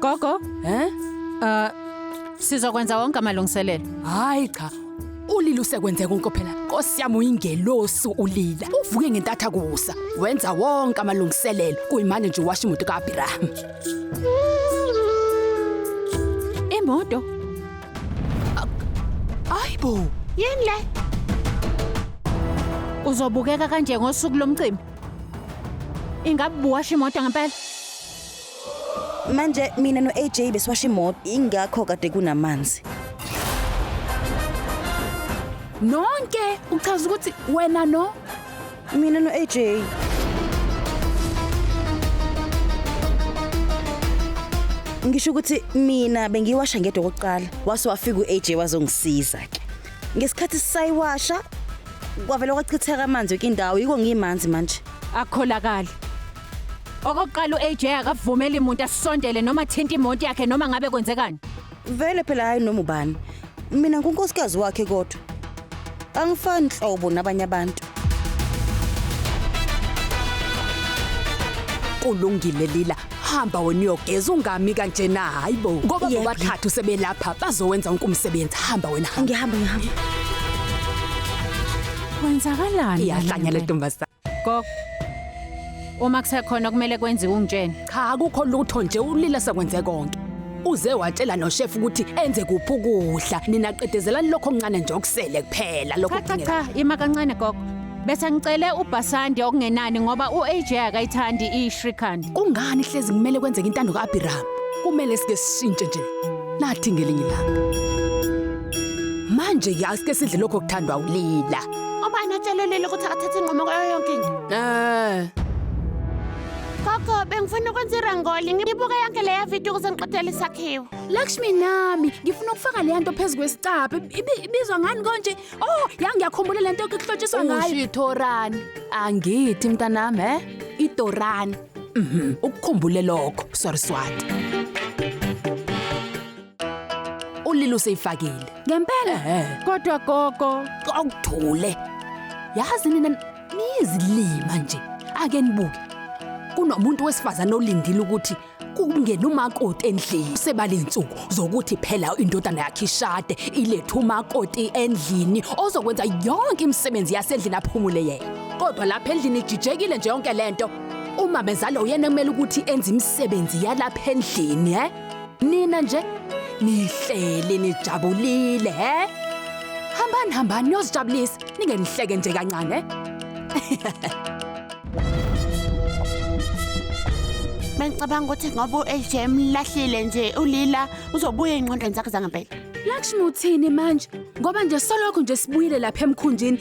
Gogo, Eh? uh, sizokwenza wonke amalungiselelo. Hayi cha. Ulila usekwenze konke phela. Nkosi yami uyingelosi ulila. Uvuke ngentatha kusa. Wenza wonke amalungiselelo. Kuyimanje nje washa imoto kaAbraham. Imoto? Ayibo. Yini le? Uzobukeka kanje ngosuku lomcimbi? Ingabe buwasha imoto ngempela? Manje mina no-AJ besiwasha imoto ingakho kade kunamanzi. Nonke uchaza ukuthi wena no Mina no-AJ. Ngisho ukuthi mina bengiwasha ngedwa okokuqala wase wafika u-AJ wazongisiza ke. ngesikhathi sisayiwasha kwavele kwachitheka amanzi yonke indawo yiko ngimanzi manje akukholakali okokuqala u-aj akavumeli muntu asisondele noma athinta imonto yakhe noma ngabe kwenzekani vele phela hhayi noma ubani mina ngunkosikazi wakhe kodwa angifani nhlobo nabanye abantu kulungile lila hamba wena uyogeza ungami kanje na hayibo ngoba Yebo. bobathathu sebelapha bazowenza wonke umsebenzi hamba wena hamba ngihamba ngihamba Kwenzakalani? iyahlanya le ntombazane Gogo. Uma kusekhona kumele kwenziwe ungitshene. cha akukho lutho nje ulila sekwenze konke uze watshela noshefu ukuthi enze kuphi ukudla nina qedezelani lokho okuncane nje okusele kuphela lokho Cha cha kudingeka- cha, ima kancane gogo. Bese ngicele uBhasandi okungenani ngoba u-AJ akayithandi i-Shrikant. Kungani hlezi kumele kwenzeke intando ka-Abhiramu? Kumele sike sishintshe nje. Nathi ngelinye ilanga. Manje-ke asike sidle lokho kuthandwa ulila. Ubani otshelelile ukuthi akathathe inqumo kwayo yonke into? Eh. Gogo, bengifuna ukwenza irangoli. Ngibuke yonke leya video ukuze ngiqedele isakhiwo. Lakshmi nami ngifuna ukufaka leya nto phezu kwesicabha Ibi- ibizwa ngani konje Oh, ya ngiyakhumbula le nto kuhlotshiswa ngayo. Usho ithorani. Angithi mntanami, he? Idorani. Mhm, ukukhumbule lokho. Sorry Swati. Ulilo useyifakile. Ngempela. Ehhe. Kodwa gogo, Awuthule. Yazi nina niyizilima nje. Ake nibuke. Kunomuntu wesifazane olindile ukuthi kungena umakoti endlini sebalensuku zokuthi phela indodana yakhe ishade ilethe umakoti endlini ozokwenza yonke imisebenzi yasendlini aphumule yena kodwa lapha endlini ijijekile nje yonke lento uma bezalo uyena kumele ukuthi enze imisebenzi yalapha endlini he nina nje nihleli nijabulile he hambani hambani niyozijabulisa ningenihleke nje kancane Bengicabanga ukuthi ngoba u-AJ emlahlile nje ulila uzobuya ey'ngqondweni zakhe zangempela. Lakshmi uthini manje? Ngoba nje solokhu nje sibuyile lapha emkhunjini.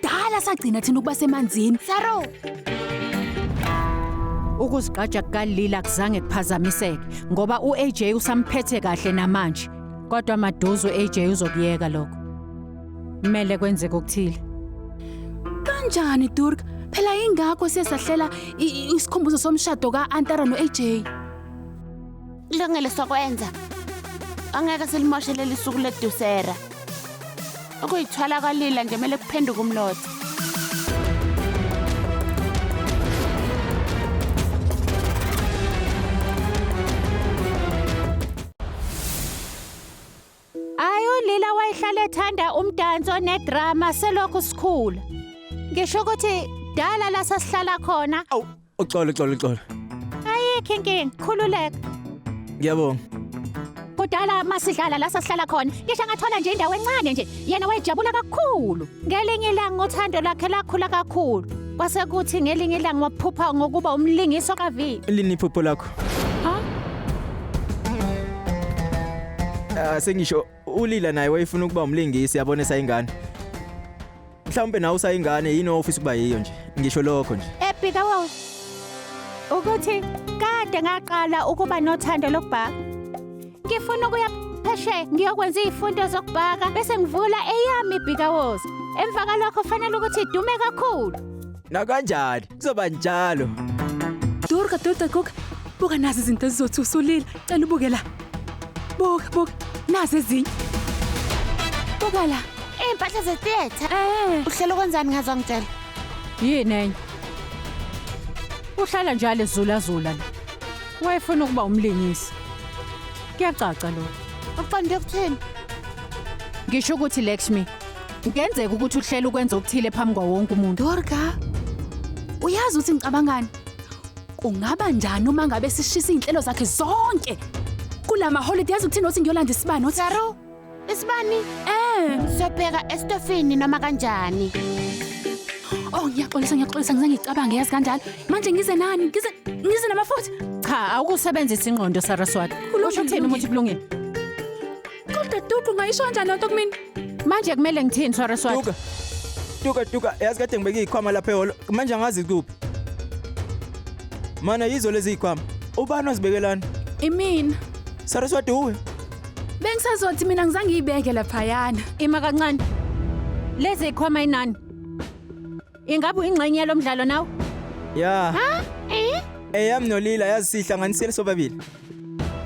Dala sagcina thina ukuba semanzini. Saro! Ukuzigqaja kukalila kuzange kuphazamiseke ngoba u-AJ usamphethe kahle namanje. Kodwa maduze u-AJ uzokuyeka lokho. Kumele kwenzeke okuthile. Kanjani Durk? Phela ingakho sesahlela i- i- isikhumbuzo somshado ka-Antara no-AJ. Kulungile sokwenza. Angeke silimoshe leli suku ledusera. Ukuyithwala kwalila nje kumele kuphenduke umlotha. Ayi ulila wayehlale ethanda umdanso nedrama selokhu sikhula. Ngisho ukuthi dala la sasihlala khona Awu, uxolo uxolo uxolo. ayikho inkinga khululeka. Ngiyabonga. Kudala masidlala la sasihlala khona ngisho ngathola nje indawo encane nje yena wayejabula kakhulu. Ngelinye ilanga uthando lakhe lakhula kakhulu. Kwase kuthi ngelinye ilanga waphupha ngokuba umlingiso kaV. Lini iphupho lakho? Ah sengisho ulila naye wayefuna ukuba umlingisi yabona esayingane. Mhlawumbe nawe usayingane yini ofisa ukuba yiyo nje. Ngisho lokho nje. Ebhika wo. Ukuthi kade ngaqala ukuba nothando lokubhaka. Ngifuna ukuya phesheya ngiyokwenza izifundo zokubhaka bese ngivula eyami ibhikawozi. Emva kalokho fanele ukuthi idume kakhulu. Nakanjani kuzoba njalo. Durga, Durga, Guga, buka nazi izinto ezizothi usulile. Cela ubuke la. Buka, buka, nazi ezinye. Buka la. Iy'mpahla zetheatre. Eh, Uhlela ukwenzani ngazo angitshela? Yini enye? Uhlala njalo ezulazula la. Wayefuna ukuba umlingisi. Kuyacaca lokho. Uqonde ukuthini? Ngisho ukuthi Lakshmi, kungenzeka ukuthi uhlela ukwenza okuthile phambi kwawo wonke umuntu. Durga, uyazi ukuthi ngicabangani? Kungaba njani uma ngabe sishisa izinhlelo zakhe zonke? Kulama holiday yazi ukuthini othi ngiyolanda isibani othi Saru, Isibani? Eh, siyobheka estofini noma kanjani. Oh, ngiyaxolisa ngiyaxolisa ngize ngicabange yazi kanjalo. Manje ngize nani? Ngize ngize namafutha. Cha, awukusebenzisa ingqondo Saraswati. Usho uthini umuthi kulungile? Kodwa Dudu ngayisho kanjani lento kumina? Manje kumele ngithini Saraswati? Duka. Duka duka yazi kade ngibeke izikhwama lapha ehholo. Manje angazi kuphi. Mana yizo lezi zikhwama. Ubani ozibekelana? Imina. Saraswati uwe. Bengisazothi mina ngizange ngiyibeke laphayana. Ima kancane. Lezi ikhoma inani. Ingabe uyingxenye yalo mdlalo nawe? Ya, Ha? Eh? eyami noLila yazisihlanganisile sobabili.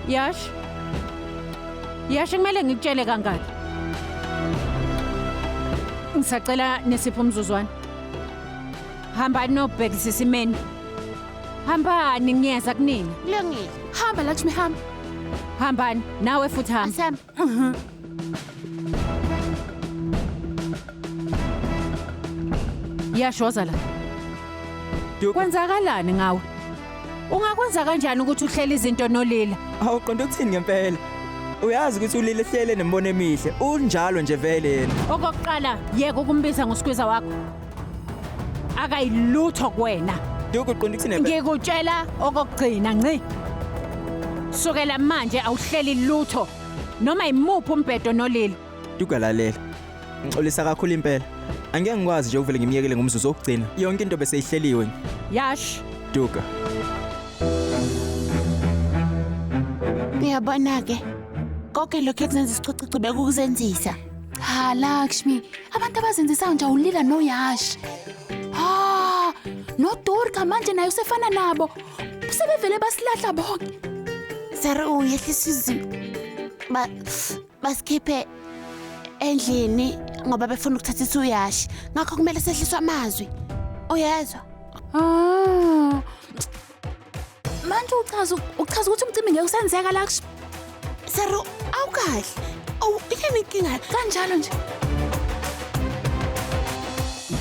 Yash. Yash kumele ngikutshele kangaki. Ngisacela nesipho umzuzwana. Hambani nobhekisisa imenu. Hambani ngiyeza kunina. Kulungile. Hamba Lakshmi hamba. Hambani nawe futhi hamba. Asihamba. Yashoza la. Duka. Kwenzakalani ngawe? Ungakwenza kanjani ukuthi uhlele izinto nolila? Hawu qonda ukuthini ngempela? Uyazi ukuthi ulile hlele nembono emihle. Unjalo nje vele yena. Okokuqala yeka ukumbiza ngosikhwiza wakho. akayilutho kuwena Duku qonda ukuthini phela? ngikutshela okokugcina nci sukela manje awuhleli lutho noma yimuphi umbhedo nolili Duku lalela. Ngixolisa kakhulu impela. Angeke ngikwazi nje ukuvele ngimyekele ngomzuzu wokugcina. Yonke into bese ihleliwe. yash Duku. Uyabona-ke, konke lokhu ekuzenzisa isicucucu bekukuzenzisa. Cha Lakshmi, abantu abazenzisayo nje awulila noYash. Ah, noDurga manje naye usefana nabo. Sebevele basilahla bonke. Sara uyehlisa izimo. Ba basikhiphe endlini ngoba befuna ukuthatha isuyashi. Ngakho kumele sehliswe amazwi. Uyezwa? Ah, Manje uchaza uchaza ukuthi umcimbi ngeke usenzeka la kusho. Saro, awukahle. Awu, yini inkinga? Kanjalo nje.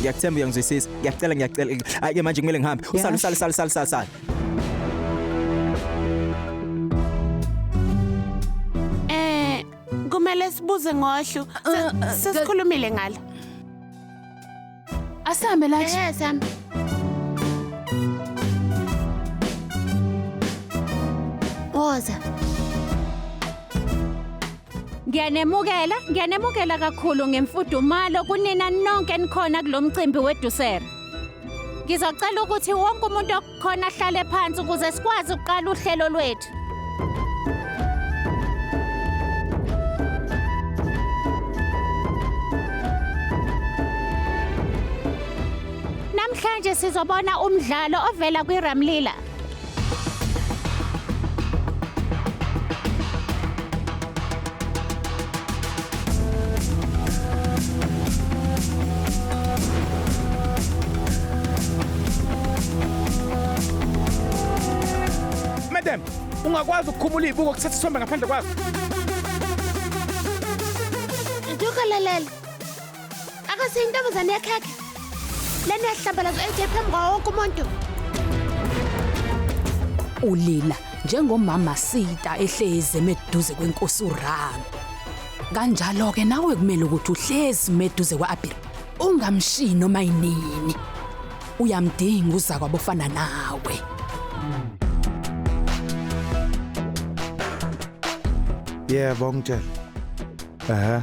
Ngiyakuthemba uyangizwisisa. Ngiyacela ngiyacela. Hayi ke manje kumele ngihambe. Usale usale usale usale usale, usale. Eh, kumele sibuze ngohlu. Se- Sesikhulumile ngalo. Asambe lathi. Ehe Sam. Woza. Ngiyanemukela, ngiyanemukela kakhulu ngemfudumalo kunina nonke enikhona kulomcimbi wedusera. Ngizocela ukuthi wonke umuntu khona hlale phansi ukuze sikwazi ukuqala uhlelo lwethu. Namhlanje sizobona umdlalo ovela kwiRamlila. Madam, ungakwazi ukukhumula izibuko kuthatha isithombe ngaphandle kwazo. Ntuka lalela. Akase intombazane yakhekhe. Lena yahlambalazo ethe phambi kwawo wonke umuntu. Ulila njengomama Sita ehlezi emeduze kwenkosi uRama. Kanjalo ke nawe kumele ukuthi uhlezi meduze kwaAbir. Ungamshiyi noma yinini. Uyamdinga uzakwa bofana nawe. Yebo ngitshela. Ehhe.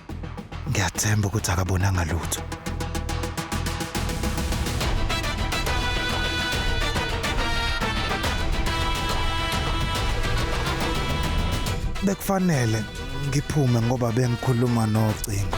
Ngiyathemba ukuthi akabonanga lutho. Bekufanele ngiphume ngoba bengikhuluma nocingo.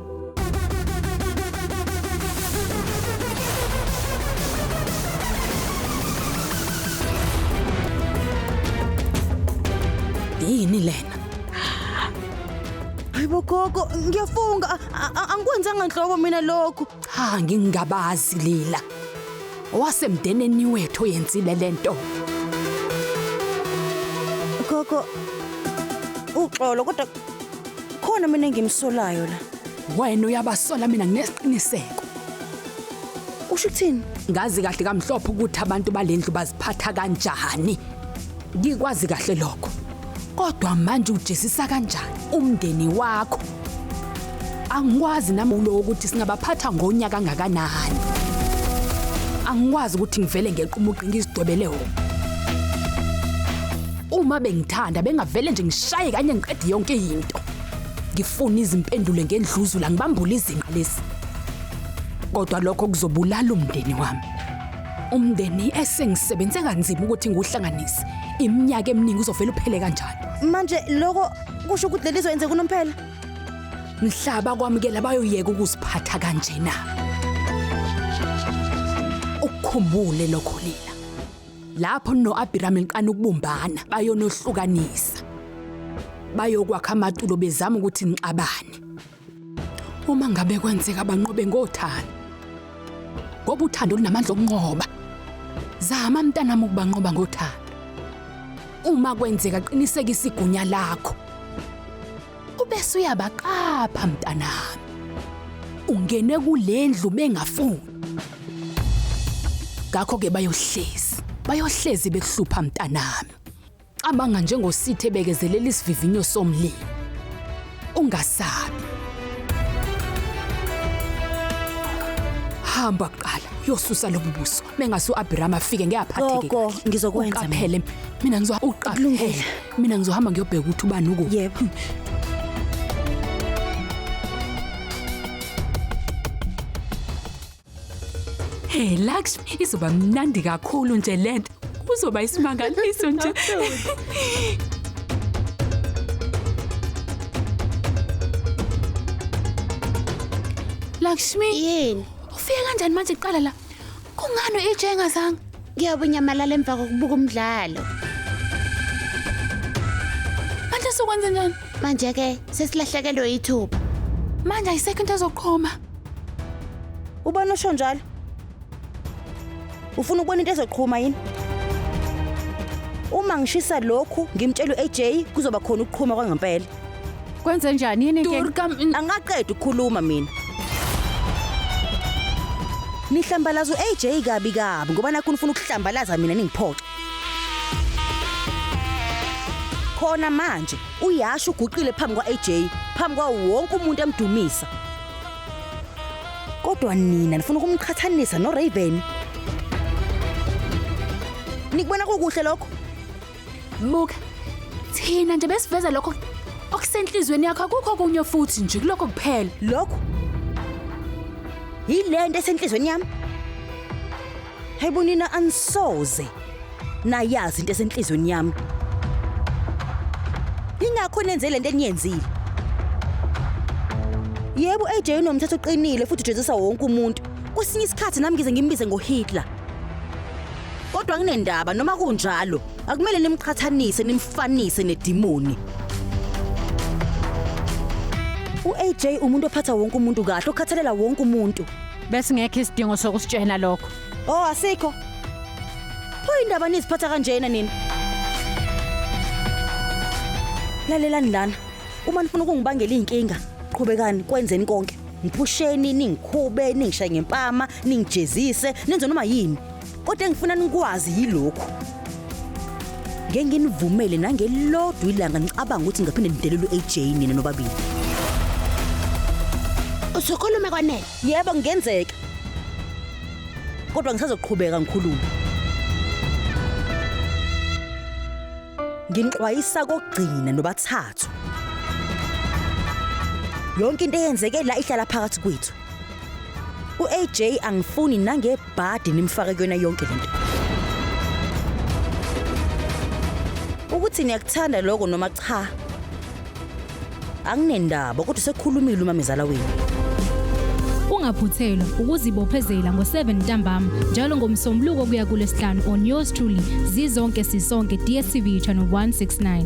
yini lena hayibo gogo ngiyafunga a- a- angikwenzanga nhlobo mina lokhu cha ngingabazi lila owasemndeneni wethu oyenzile lento gogo uxolo kodwa Khona mina engimsolayo la. Wena uyabasola mina nginesiqiniseko. Usho ukuthini? Ngazi kahle kamhlophe ukuthi abantu balendlu baziphatha kanjani. Ngikwazi kahle lokho. Kodwa manje ujezisa kanjani umndeni wakho? Angikwazi nami ulo ukuthi singabaphatha ngonya kangakanani. Angikwazi ukuthi ngivele ngequmuqi ngizidobele wona. Uma bengithanda bengavele nje ngishaye kanye ngiqede yonke into. Ngifuna izimpendulo ngendluzula ngibambule izinqa lesi. Kodwa lokho kuzobulala umndeni wami. Umndeni esengisebenze kanzima ukuthi ngiwuhlanganise. Iminyaka eminingi uzovela uphele kanjani? Manje lokho kusho ukuthi lelizo yenze kunomphela. Mhlaba kwamukela bayoyeka ukuziphatha kanjena. Ukukhumbule lokho lina. Lapho noAbhirami liqala ukubumbana, bayonohlukanisa. Bayokwakha amatulo bezama ukuthi nixabane. Uma ngabe kwenzeka banqobe ngothando. Ngoba uthando lunamandla okunqoba. Zama mntanami ukubanqoba ngothando. Uma kwenzeka qinisekisa igunya lakho. Ubese uyabaqapha mntanami. Ungene kulendlu bengafuni. Ngakho ke bayohlezi. Bayohlezi bekuhlupha mntanami. Cabanga njengosithe ebekezelela isivivinyo somlilo. Ungasabi. Hamba kuqala uyosusa lobu buso. Mengase uAbraham afike ngeyaphatheke. Gogo, ngizokwenza mina. Uqaphele mina ngizwa uqaphele. Kulungile. mina ngizohamba ngiyobheka ukuthi ubani uku yebo Hey Lux, izoba mnandi kakhulu nje lento. Kuzoba isimangaliso nje. Lakshmi, Yini? ufike kanjani manje kuqala la? Kungani u-EJ engazanga? Ngiyobe unyamalala emva kokubuka umdlalo. Manje sokwenze njani? Manje-ke sesilahlekelwe yithuba. Manje ayisekho into ezoqhoma. Ubani osho njalo? Ufuna ukubona into ezoqhuma yini? Uma ngishisa lokhu ngimtshela u-AJ kuzoba khona ukuqhuma kwangempela. Kwenze njani yini inkinga? Durga mina angaqedi ukukhuluma mina. Nihlambalaza u-AJ kabi kabi ngoba nakho nifuna ukuhlambalaza mina ningiphoxe. Khona manje uyasho uguqile phambi kwa-AJ, phambi kwawo wonke umuntu emdumisa. Kodwa nina nifuna ukumqhathanisa noRaven. Nikubona kukuhle lokho? Buka, thina nje besiveza lokho okusenhlizweni yakho akukho kunye futhi nje kulokho kuphela. Lokhu yilento esenhlizweni yami. Hayibo nina anisoze nayazi into esenhlizweni yami. Ingakho nenze lento eniyenzile. Yebo AJ unomthetho oqinile futhi ujezisa wonke umuntu. Kwesinye isikhathi nami ngize ngimbize ngoHitler. Kodwa kunendaba noma kunjalo akumele nimqhathanise nimfanise nedimoni. U-AJ umuntu ophatha wonke umuntu kahle, okhathalela wonke umuntu. Besingekho isidingo sokusitshena lokho. Oh asikho. Pho indaba niziphatha kanjena nina. Lalelani lana. Uma nifuna ukungibangela izinkinga, qhubekani kwenzeni konke. Ngiphusheni, ningikhube, ningishaye ngempama, ningijezise, nenze noma yini. Kodwa engifuna nikwazi yilokhu. Ngeke nginivumele nangelodwa ilanga nicabanga ukuthi ngaphinde nidelelwe AJ nina nobabili. Usukhulume kwanele. Yebo ngenzeka. Kodwa ngisazoqhubeka ngikhulume. Nginixwayisa kokugcina nobathathu. Yonke into eyenzeke la ihlala phakathi kwethu. UAJ angifuni nange bhadi nimfake kuyona yonke lento ukuthi niyakuthanda lokho noma cha anginendaba kodwa sekhulumile umamezala wenu ungaphuthelwa ukuzibophezela ngo-7 ntambama njalo ngomsombuluko kuya kulesihlanu on yours truly zizonke sisonke dstv channel 169